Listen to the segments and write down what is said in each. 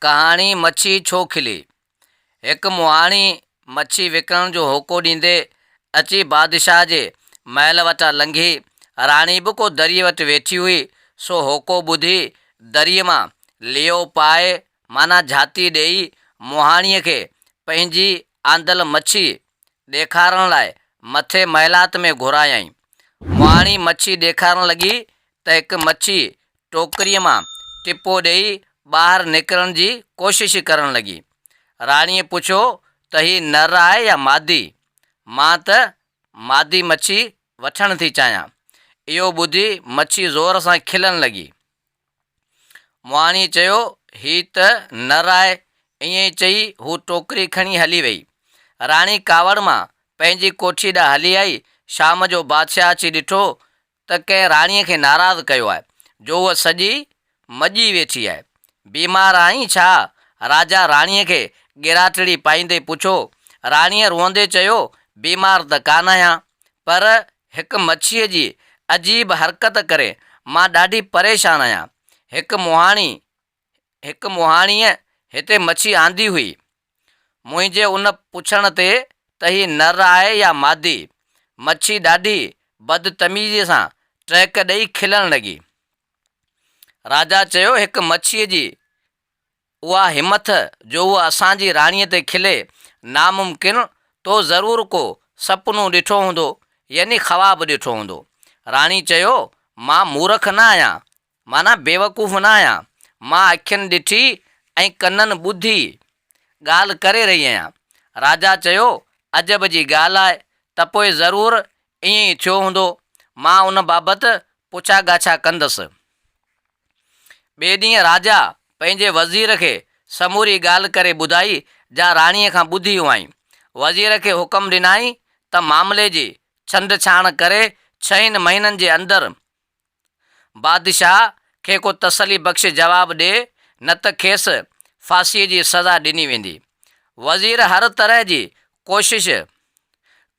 ڪهاڻي مڇي ڇو کلي؟ هڪ مهاڻي مڇي وڪڻڻ جو هوڪو ڏيندي اچي بادشاهه جي محل وٽان لنگهي، راڻي به ڪو دريء وٽ ويٺي هئي، سو هوڪو ٻڌي دريء مان ليئو پائي معنيٰ جهاتي ڏيئي مهاڻيء کي پنهنجي آندل مڇي ڏيکارڻ لاء مٿي محلات ۾ گهرايائين. مهاڻي مڇي ڏيکارڻ لڳي ته هڪ مڇي ٽوڪريء مان ٽپو ڏيئي ٻاهر نڪرڻ جي ڪوشش ڪرڻ لڳي. راڻيء پڇيو ته هي نر آهي يا مادي؟ مان ته مادي مڇي وٺڻ ٿي چاهيان. اهو ٻڌي مڇي زور سان کلڻ لڳي. مهاڻيء چيو هي ته نر آهي. ائين ئي چئي هو ٽوڪري کڻي هلي ويئي. راڻي ڪاوڙ مان پنهنجي ڪوٺيء ڏانهن هلي آئي. شام جو بادشاهه اچي ڏٺو ته ڪنهن راڻيء کي ناراض ڪيو آهي، جو هوء سڄي مڄي ويٺي آهي. بيمار آهين ڇا؟ راجا راڻيء کي ڳراٽڙي پائيندي پڇيو. راڻيء روئندي چيو، بيمار ته ڪانه آهيان، پر هڪ مڇيء جي عجيب حرڪت ڪري مان ڏاڍي پريشان آهيان. هڪ مهاڻي هڪ مهاڻيء هتي مڇي آندي هئي. منهنجي ان پڇڻ تي ته هي نر آهي يا مادي، مڇي ڏاڍي بدتميزيء سان ٽهڪ ڏئي کلڻ لڳي. راجا چيو، هڪ مڇيء جي اها همٿ جو هوء اسان جي راڻيء تي کلي، ناممڪن، تو ضرور ڪو سپنو ڏٺو هوندو، يعني خواب ڏٺو هوندو. راڻي چيو، مان مورک نه آهيان، معنيٰ بيوقوف نه آهيان، مان اکين ڏٺي ۽ ڪنن ٻڌي ڳالهه ڪري رهي آهيان. راجا چيو، عجب جي ڳالهه آهي ته پوء ضرور ائين ئي ٿيو هوندو. مان ان بابت پڇا ڳاڇا ڪندس. ٻئي ڏينهن راجا پنهنجي وزير کي سموري ڳالهه ڪري ٻڌائي جا راڻيء کان ٻڌي هئائين. وزير کي حڪم ڏنائين ته معاملي جي ڇنڊڇاڻ ڪري ڇهين مهينن جي اندر بادشاهه کي ڪو تسلي بخش جواب ڏي نه ته کيس ڦاسيء جي سزا ڏني ويندي. وزير هر طرح جي ڪوشش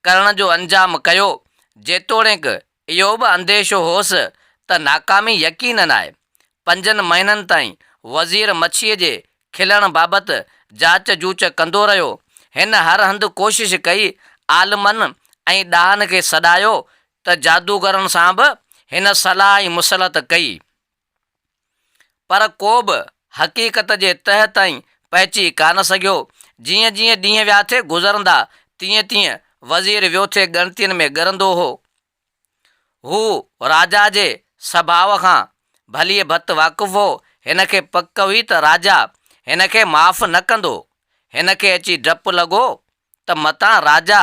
ڪرڻ جو انجام ڪيو، جيتوڻيڪ اهو به انديشو هوس ته ناڪامي يقينن آهي. پنجن مهينن تائين وزير مڇيء جي کلڻ بابت جاچ جوچ ڪندو رهيو. هن هر هنڌ ڪوشش ڪئي، عالمن ۽ ڏاهن کي سڏايو، ته جادوگرن سان به هن صلاح ۽ مصلحت ڪئي، پر ڪو به حقيقت جي تهه تائين پهچي ڪانه سگهيو. جيئن جيئن ڏينهن ويا ٿي گذرندا، تيئن تيئن وزير ويو ٿي ڳڻتين ۾ ڳرندو هو. هو راجا جي سڀاء کان ڀليء ڀت واقف هو. هن کي پڪ هئي ته راجا هن کي معاف نه ڪندو. هن کي اچي ڊپ لڳو ته متان راجا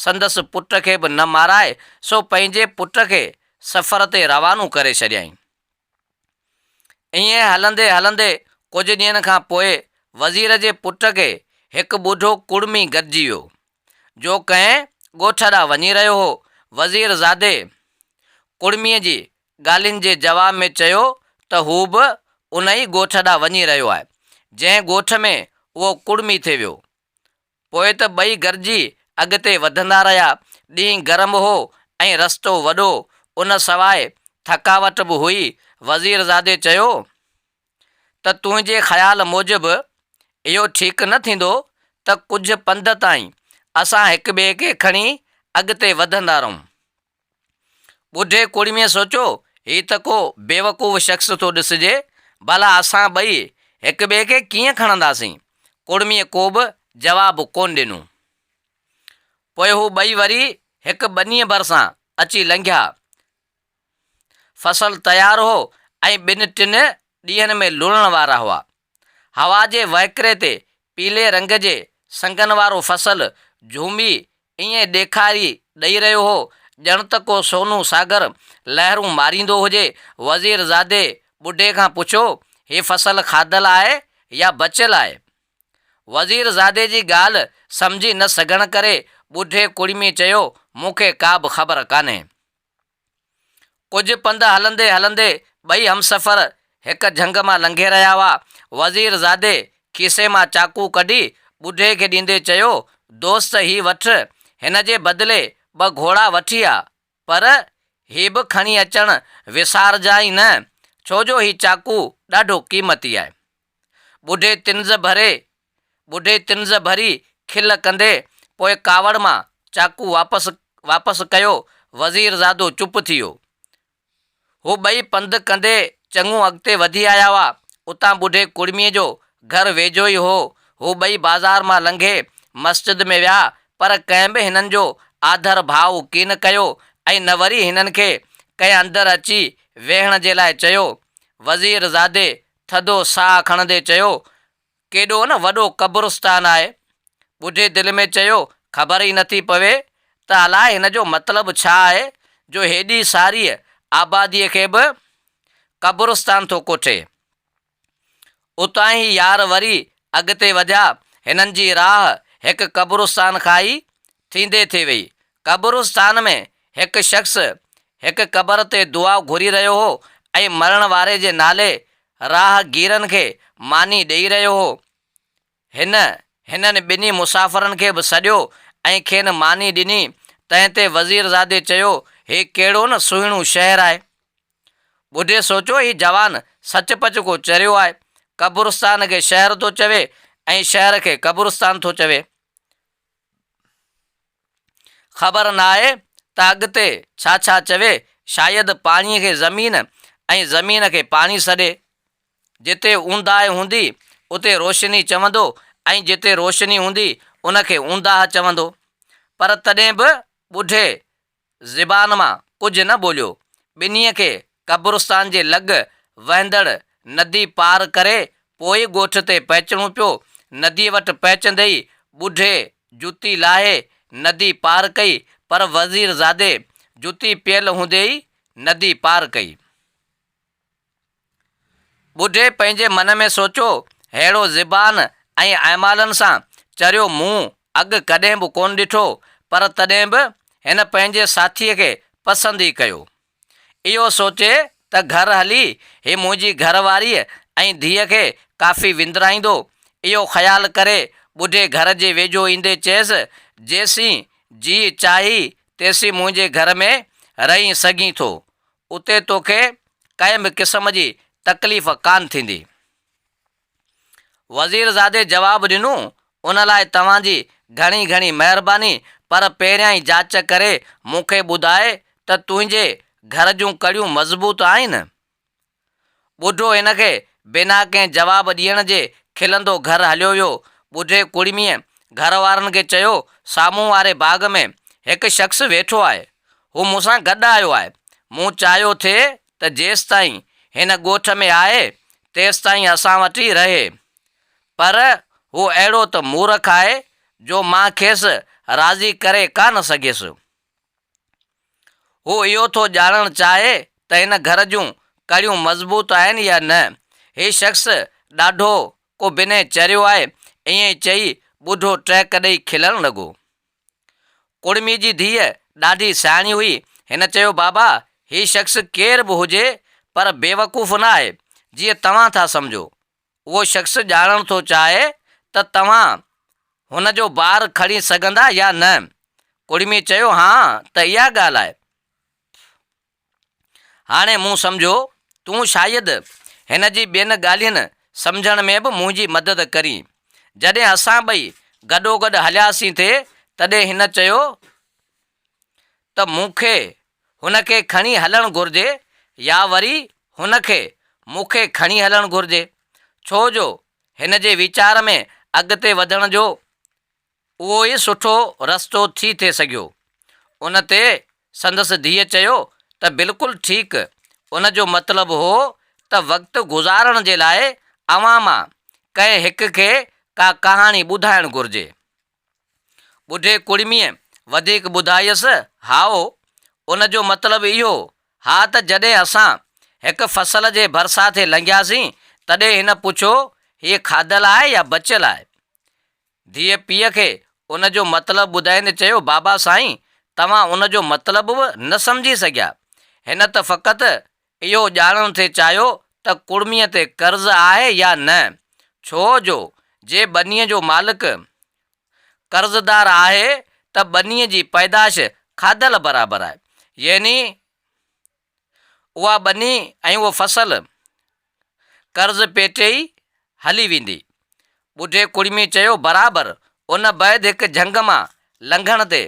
سندس پٽ کي به نه مارائي، سو پنهنجي پٽ کي سفر تي روانو ڪري ڇڏيائين. ائين هلندي هلندي ڪجهه ڏينهن کان پوء وزير جي پٽ کي هڪ ٻڍو ڪڙمي گڏجي ويو، جو ڪنهن ڳوٺ ڏانهن وڃي رهيو هو. وزير زادي ڪڙميء جي ڳالهين جي جواب ۾ چيو ته هو به ان ئي ڳوٺ ڏانهن وڃي رهيو آهي، جنهن ڳوٺ ۾ اهو ڪڙمي ٿي ويو. پوء ته ٻئي گڏجي اڳتي وڌندا رهيا. ڏينهن گرم هو ۽ رستو وڏو، ان سواء ٿڪاوٽ به هئي. وزيرزادي چيو ته تنهنجي خيال موجب اهو ٺيڪ نه ٿيندو ته ڪجهه پنڌ تائين اسان هڪٻئي کي کڻي اڳتي وڌندا رهون. ٻڍي ڪوڙميء سوچيو، هي ته ڪو بيوقوف شخص ٿو ڏسجي، ڀلا اسان ٻئي هڪ ٻئي کي ڪيئن کڻنداسين؟ ڪوڙميء ڪوبه جواب ڪونه ڏنو. پوء هو ٻئي وري هڪ ٻنيء ڀرسان اچي لنگهيا. فصل تيار هو ۽ ٻن ٽن ڏينهن ۾ لوڻڻ وارا هئا. هوا جي وهڪري تي پيلي رنگ جي سنگن وارو فصل جهومي ائين ڏيکاري ڏئي رهيو هو، ڄڻ ته ڪو سونهون ساگر لهرون ماريندو هجي. وزيرزادي ٻڍي کان پڇيو، هي فصل کاڌل آهي يا بچيل آهي؟ وزيرزادي جي ڳالهه سمجهي نه سگهڻ ڪري ٻڍي ڪڙمي چيو، مون کي ڪابه خبر ڪانهي. ڪجهه پنڌ هلندي هلندي ٻئي همسفر هڪ جهنگ مان لنگهي رهيا هئا. وزير زادي کيسي مان چاقو ڪڍي ٻڍي کي ڏيندي چيو، دوست هي وٺ، هن جي بدلي ٻه گهوڙا وٺي آ. پر هي به کڻي اچڻ وسارجانء نه، ڇو جو هي چاقو ڏاڍو قيمتي آهي. ٻڍي طنز ڀري ٻڍي طنز ڀري کل ڪندي پوء ڪاوڙ مان چاقو واپس واپس ڪيو. وزيرزادو چپ ٿي ويو. هو ٻئي پنڌ ڪندي چڱو اڳتي وڌي آيا هئا. اتان ٻڍي ڪڙميء جو گهر ويجهو ئي هو. هو ٻئي بازار مان لنگهي مسجد ۾ ويا، پر ڪنهن به هنن جو آڌر ڀاء ڪين ڪيو ۽ نه وري هنن کي ڪنهن اندر اچي ويهڻ جي لاء چيو. وزيرزادي ٿڌو ساهه کڻندي چيو، ڪيڏو نه وڏو قبرستان آهي. ٻڍي دل ۾ چيو، خبر ئي نٿي پوي ته الاء هن جو مطلب ڇا آهي جو هيڏي ساريء آباديء کي به قبرستان ٿو ڪوٺي. اتان هي يار وري اڳتي وڌيا. هنن جي راهه هڪ قبرستان کان ئي ٿيندي ٿي ويئي. قبرستان ۾ هڪ شخص هڪ قبر تي دعا گهري رهيو هو ۽ مرڻ واري جي نالي راهگيرن کي ماني ڏئي رهيو هو. هن هنن ٻنهي مسافرن کي به سڏيو ۽ کين ماني ڏني، تنهن تي وزيرزادي چيو، هي ڪهڙو نه سهڻو شهر آهي. ٻڌي سوچو هي جوان سچ پچ ڪو چريو آهي، قبرستان کي شهر ٿو چوي ۽ شهر کي قبرستان ٿو چوي. خبر ناهي ته اڳتي ڇا ڇا چوي، شايد پاڻي کي زمين ۽ زمين کي پاڻي سڏي. جتي اونداهه هوندي اتي روشني چوندو ۽ جتي روشني هوندي ان کي اونداهه چوندو. پر تڏهن به ٻڍي زبان مان ڪجهه نه ٻوليو. ٻنهي کي قبرستان جي لڳ وهندڙ ندي پار ڪري پوء ڳوٺ تي پهچڻو پيو. نديء وٽ پهچندي ئي ٻڍي جتي لاهي ندي پار ڪئي پر وزيرزادي جتي پيل هوندي ئي ندي پار ڪئي. ٻڍي پنهنجي من ۾ سوچيو، ههڙو زبان ۽ اعمالن سان چريو مون اڳ ڪڏهن به ڪونه ڏٺو، پر تڏهن به هن پنهنجي ساٿيء کي پسند ئي ڪيو. اهو سوچي ته گهر هلي هي منهنجي گهر واريء ۽ ڌيء کي ڪافي وندرائيندو، اهو خيال ڪري ٻڍي گهر جي ويجهو ايندي چيس، جيسين جيء چاهين تيسين منهنجي گهر ۾ رهين سگهين ٿو. اتي توکي ڪنهن به قسم جي تڪليف ڪانه ٿيندي. وزيرزادي جواب ڏنو، ان لاء توهان جي گهڻي گهڻي مهرباني پر پهريائين جاچ ڪري مون کي ٻڌاء ته تنهنجي گهر جون ڪڙيون مضبوط آهن؟ ٻڍو هن کي بنا ڪنهن جواب ڏيڻ جي کلندو گهر هليو ويو. ٻڍي ڪڙميء گهر وارن کي چيو، سامهون واري باغ ۾ هڪ شخص ويٺو آهي. هو مون سان گڏ آيو آهي. مون چاهيو ٿي ته جيستائين هن ڳوٺ ۾ آهي، تيستائين اسان وٽ ئي رهي. پر هو اهڙو ته مورک آهي جو مان کيس راضي ڪري ڪا نه سگهيس. هو اهو ٿو ڄاڻڻ چاهي ته هن گهر جون ڪڙيون مضبوط آهن يا نه. هي شخص ڏاڍو ڪو بنهه چريو آهي. ائين چئي ٻڍو ٽهڪ ڏئي کلڻ لڳو. ڪڙمي جي ڌيء ڏاڍي سياڻي هئي. هن چيو بابا هي شخص ڪير به هجي پر بيوقوف نه آهي جيئن توهان ٿا سمجهو. اهو شخص ڄاڻڻ ٿو چاهي ته توهان هن جو بار کڻي سگهندا يا نه؟ ڪڙمي چيو، ها ته اها ڳالهه آهي. هاڻي مون سمجهيو تون شايد هن جي ٻين ڳالهين سمجهڻ ۾ به منهنجي مدد ڪرين. جڏهن اسان ٻئي گڏوگڏ هلياسين ٿي تڏهن هن چيو ته مون کي هن کي کڻي هلڻ گهرجي يا وري هن کي مون کي کڻي هلڻ گهرجي ڇو جو هن جي ويچار ۾ اڳتي وڌڻ جو اهو ئي سٺو رستو ٿي ٿي سگهيو. ان تي سندس ڌيء چيو ته بلڪل ٺيڪ ان جو مطلب هو ته وقت گذارڻ جي لاء اوهان مان ڪنهن هڪ کي ڪا ڪهاڻي ٻڌائڻ گهرجي. ٻڍي ڪڙميء وڌيڪ ٻڌايس، هائو، ان جو مطلب اهو، ها ته جڏهن اسان هڪ فصل جي ڀرسان ٿي لنگهياسين، تڏهن هن پڇيو، هيء کاڌل آهي يا بچيل آهي؟ ڌيء پيء کي ان جو مطلب ٻڌائيندي چيو، بابا سائين، توهان ان جو مطلب به نه سمجهي سگهيا، هن ته فقط اهو ڄاڻڻ ٿي چاهيو ته ڪڙميء تي قرض آهي يا نه، ڇو جو جي ٻنيء جو مالڪ قرضدار آهي ته ٻنيء جي پيدائش کاڌل برابر آهي، يعني اها ٻني ۽ اهو فصل قرض پيٽي ئي هلي ويندي. ٻڍي ڪڙمي چيو، برابر! ان بعد هڪ جهنگ مان لنگهڻ تي،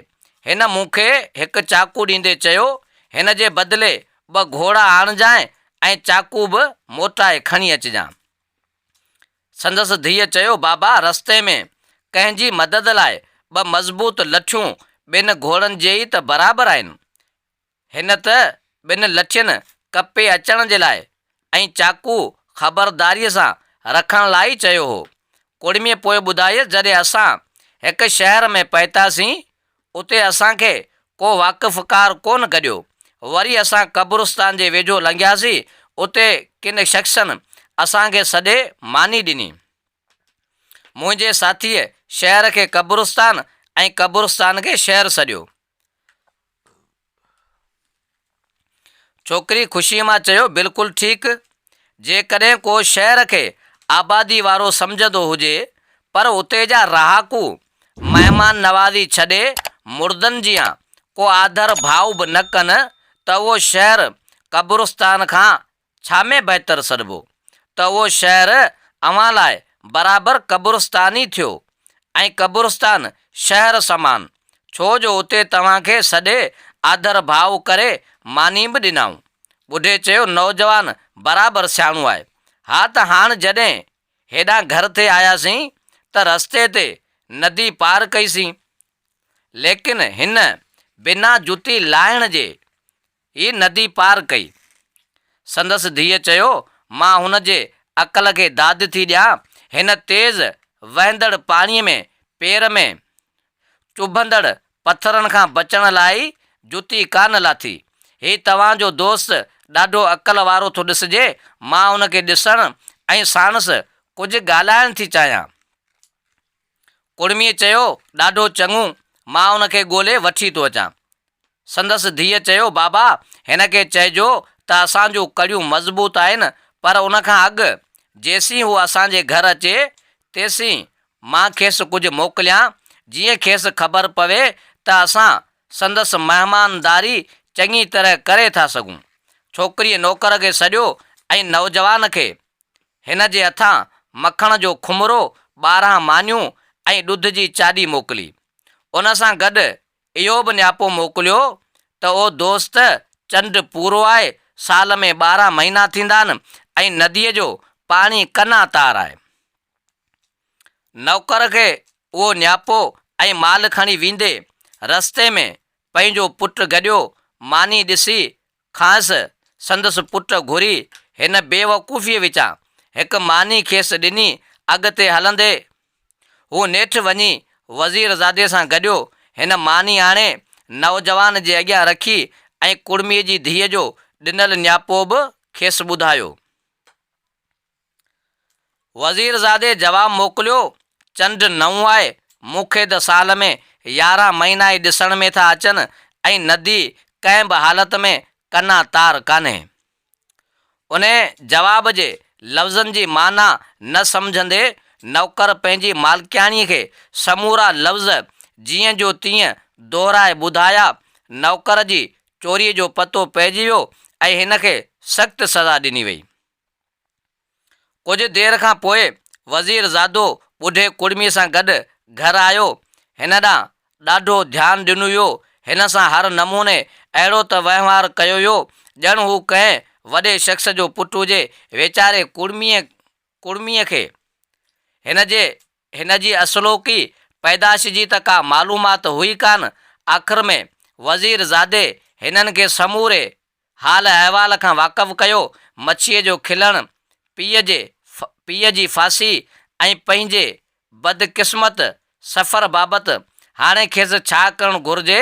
هن مون کي هڪ چاقو ڏيندي چيو، هن جي بدلي ٻه گهوڙا آڻجانء ۽ چاقو به موٽائي کڻي اچجانء. سندس ڌيء چيو، بابا! رستي ۾ ڪنهن جي مدد لاء ٻه مضبوط لٺيون ٻن گهوڙن جي ئي ته برابر آهن. هن ته ٻن لٺين ڪپي اچڻ جي لاء ۽ چاقو خبرداريء سان رکڻ لاء ئي چيو هو. ڪڙميء پوء ٻڌايس، جڏهن اسان هڪ شهر ۾ پهتاسين، اتي اسان کي ڪو واقفڪار ڪونه گڏيو. وري اسان قبرستان جي ويجهو لنگهياسين، اتي ڪن شخصن اسان کي سڏي ماني ڏني. منهنجي ساٿيء شهر کي قبرستان ۽ قبرستان کي شهر سڏيو. ڇوڪري خوشيء مان چيو، بلڪل ٺيڪ. جيڪڏهن ڪو شهر کي آبادي وارو سمجهندو هجي، پر اتي جا رهاڪو مهمان نوازي ڇڏي مردن جيان ڪو آڌر ڀاء به نه ڪن ته اهو شهر قبرستان کان ڇا ۾ بهتر سڏبو ته اهو شهر اوهان لاء برابر قبرستان ئي ٿيو ۽ قبرستان شهر سمان، ڇو جو اتي توهان کي سڏي آڌر ڀاء ڪري ماني به ڏنائون. ٻڍي چيو نوجوان برابر سياڻو آهي. ها ته هاڻ جڏهن هيڏانهن گهر تي آياسين ته رستي تي ندي پار ڪئي سين ليڪن هن بنا جتي لاهڻ جي هي ندي پار ڪئي. سندس ڌيء چيو، مان هن جي عقل کي داد ٿي ڏيان، هن تيز وهندڙ پاڻيء ۾ پير ۾ چڀندڙ پٿرن کان بچڻ لاء ئي جتي ڪانه لاٿي. هي توهان جو دوست ڏاڍو عقل وارو ٿو ڏسجي، مان هن کي ڏسڻ ۽ ساڻس ڪجهه ڳالهائڻ ٿي چاهيان. ڪڙميء چيو، ڏاڍو چڱو، مان ان کي ڳولي وٺي ٿو اچان. سندس ڌيء چيو، بابا، هن کي چئجو ته اسان جون ڪڙيون مضبوط آهن، پر ان کان اڳ، جيسين هو اسان جي گهر اچي، تيسين مان کيس ڪجهه موڪليان، جيئن کيس خبر پوي ته اسان سندس مهمانداري چڱي طرح ڪري ٿا سگهون. ڇوڪريء نوڪر کي سڏيو ۽ نوجوان کي هن جي هٿان مکڻ جو کمرو، ٻارهن مانيون ۽ ڏڌ جي چاڏي موڪلي. ان سان گڏ اهو به نياپو موڪليو ته او دوست! چنڊ پورو آهي، سال ۾ ٻارهن مهينا ٿيندا آهن ۽ نديء جو پاڻي قنا تار آهي. نوڪر کي اهو نياپو ۽ مال کڻي ويندي، رستي ۾ پنهنجو پٽ گڏيو ماني ڏسي کانئس سندس پٽ گهري هن بيوقوفيء وچان هڪ ماني کيس ڏني اڳتي هلندي هو نيٺ وڃي وزيرزادي سان گڏيو هن ماني آڻي نوجوان جي اڳيان رکي ۽ ڪڙميء جي ڌيء جو ڏنل نياپو به کيس ٻڌايو. وزيرزادي جواب موڪليو، چنڊ نئون آهي، مون کي ته سال ۾ يارهن مهينا ئي ڏسڻ ۾ ٿا اچن ۽ ندي ڪنهن به حالت ۾ ڪنا تار ڪانهي. انهيء جواب جي لفظن جي معنيٰ نه سمجهندي نوڪر پنهنجي مالڪياڻيء کي سمورا لفظ جيئن جو تيئن دهرائي ٻڌايا. نوڪر جي چوريء جو پتو پئجي ويو ۽ هن کي سخت سزا ڏني ويئي. ڪجهه دير کان پوء وزير زادو ٻڍي ڪڙمي سان گڏ گهر آيو. هن ڏانهن ڏاڍو ڌيان ڏنو ويو. هن سان هر نموني اهڙو ته وهنوار ڪيو ويو ڄڻ هو ڪنهن وڏي شخص جو پٽ هجي. ويچاري ڪڙميء ڪڙميء کي هن جي هن جي اصلوڪي پيدائش جي ته ڪا معلومات هئي ڪانه. آخر ۾ وزير زادي هنن کي سموري حال احوال کان واقف ڪيو، مڇيء جو کلڻ، پيء جي پيء جي ڦاسي ۽ پنهنجي بدقسمت سفر بابت هاڻي کيس ڇا ڪرڻ گهرجي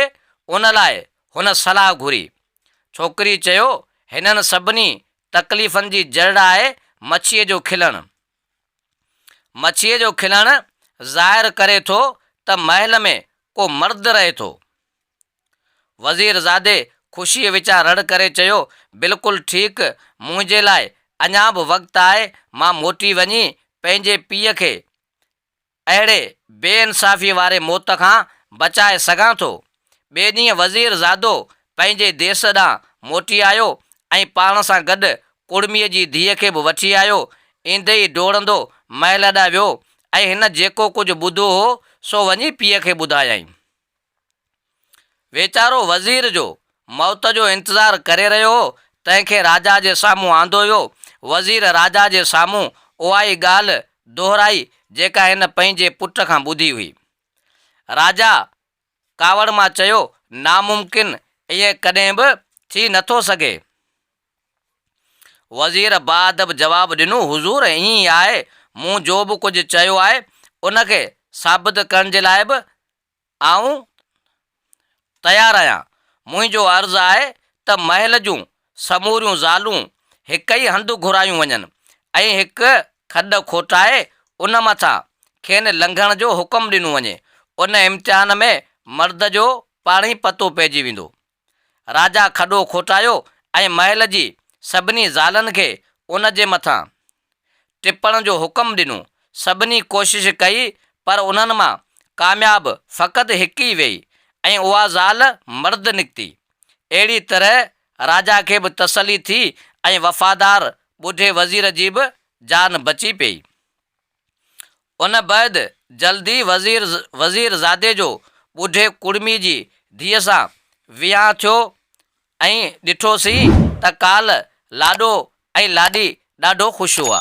ان لاء هن صلاح گهري. ڇوڪريء چيو، هنن سڀني تڪليفن جي جڙ آهي مڇيء جو کلڻ. مڇيء جو کلڻ ظاهر ڪري ٿو ته محل ۾ ڪو مرد رهي ٿو. وزيرزادي خوشيء وچان رڙ ڪري چيو، بلڪل ٺيڪ، منهنجي لاء اڃا به وقت آهي، مان موٽي وڃي پنهنجي پيء کي اهڙي بي انصافيء واري موت کان بچائي سگهان ٿو. ٻئي ڏينهن وزيرزادو پنهنجي ديس ڏانهن موٽي آيو ۽ پاڻ سان گڏ ڪڙميء جي ڌيء کي به وٺي آيو. ايندي ئي ڊوڙندو محل ڏانهن ويو ۽ هن جيڪو ڪجهه ٻڌو هو، سو وڃي پيء کي ٻڌايائين. ويچارو وزير جو موت جو انتظار ڪري رهيو هو، تنهن کي راجا جي سامهون آندو ويو. وزير راجا جي سامهون اهائي ڳالهه دهرائي، جيڪا هن پنهنجي پٽ کان ٻڌي هئي. راجا ڪاوڙ مان چيو، ناممڪن، ائين ڪڏهن به ٿي نٿو سگهي. وزير باادب جواب ڏنو، حضور، ائين ئي آهي، مون جو به ڪجهه چيو آهي، ان کي ثابت ڪرڻ جي لاء به آئون تيار آهيان. منهنجو عرض آهي ته محل جون سموريون زالون هڪ ئي هنڌ گهرايون وڃن ۽ هڪ کڏ کوٽائي ان مٿان کين لنگهڻ جو حڪم ڏنو وڃي. ان امتحان ۾ مرد جو پاڻهي پتو پئجي ويندو. راجا کڏو کوٽايو ۽ محل جي سڀني زالن کي ان جي مٿان ٽپڻ جو حڪم ڏنو. سڀني ڪوشش ڪئي پر انهن مان ڪامياب فقط هڪ ئي ويئي ۽ اها زال مرد نڪتي. اهڙي طرح راجا کي به تسلي ٿي ۽ وفادار ٻڍي وزير جي به جان بچي پيئي. ان بعد جلد ئي وزير وزير زادي جو ٻڍي ڪڙمي جي ڌيء سان ويهان ٿيو ۽ ڏٺوسين ته ڪالهه لاڏو ۽ لاڏي ڏاڍو خوش هئا.